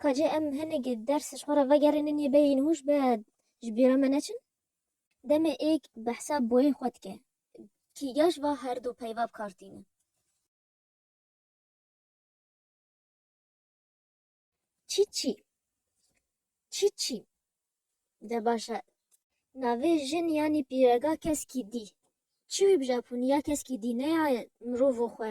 Ka cê em hinek ders ji xwe re vegerînin yê bê yên hûş be ji bîra me neçin. Demê êk behsa boyên xwe dike. Kîga ji va herdu peyva bi kar tîne? Çîçî Çîçî De baş e. Navê jin yanî pîrega keskî dî. Çi wî bi Japonî ya keskî dî ne ya mirovo xwe.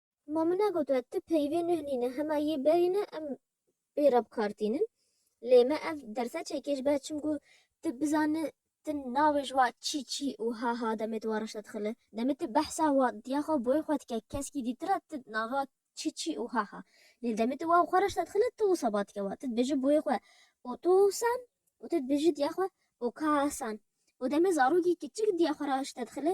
Ma min e gotiye tu peyvê nuh nîne hema yê berî ne em bê re bikartînin. Lê me ev derse çêkêj be çimku tu bizani tu navê ji wa çî çî û ha ha demê tu wa reşte dixili. Demê tu behsa wa diya xwe boyê xwe dike keskî dîtir e tu nava çî çî û ha ha. Lê demê tu wa xwe reşte dixili tu wisa ba dike wa. Tu dibêji boyê xwe otosan û tu dibêji diya xwe okasan. Û demê zarokî kiçik diya xwe reşte dixili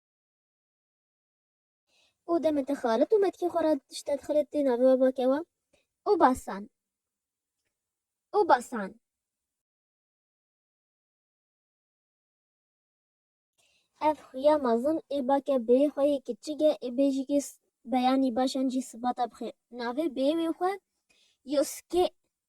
û demê te xalit û metkî xwe ra tişt te dixilê tê navê we bake we û basan û basan. Ev xuya mezin ê bake bêyê xwe yê kiçik e ê bêjikê beyanî baş an jî sibata bixê. Navê bêyê wê xwe Yosuke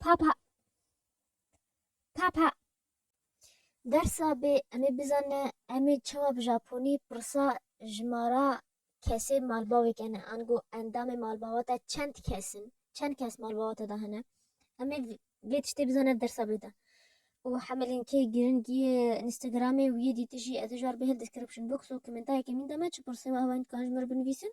Papa. Papa. Dersa bê em ê bizane em ê çawa bi Japonî pirsa jimara kesê malbavê kene ango endamê malbava te çend kes in çend kes malbava te de hene em ê vê tiştê bizane dersa bê de û hemelên kê girîngî yê Instagramê wî yê dîtişî ez ê ji ber bihil description box û komentareke min de me çi pirsê we hewa min dikarin ji min re binivîsin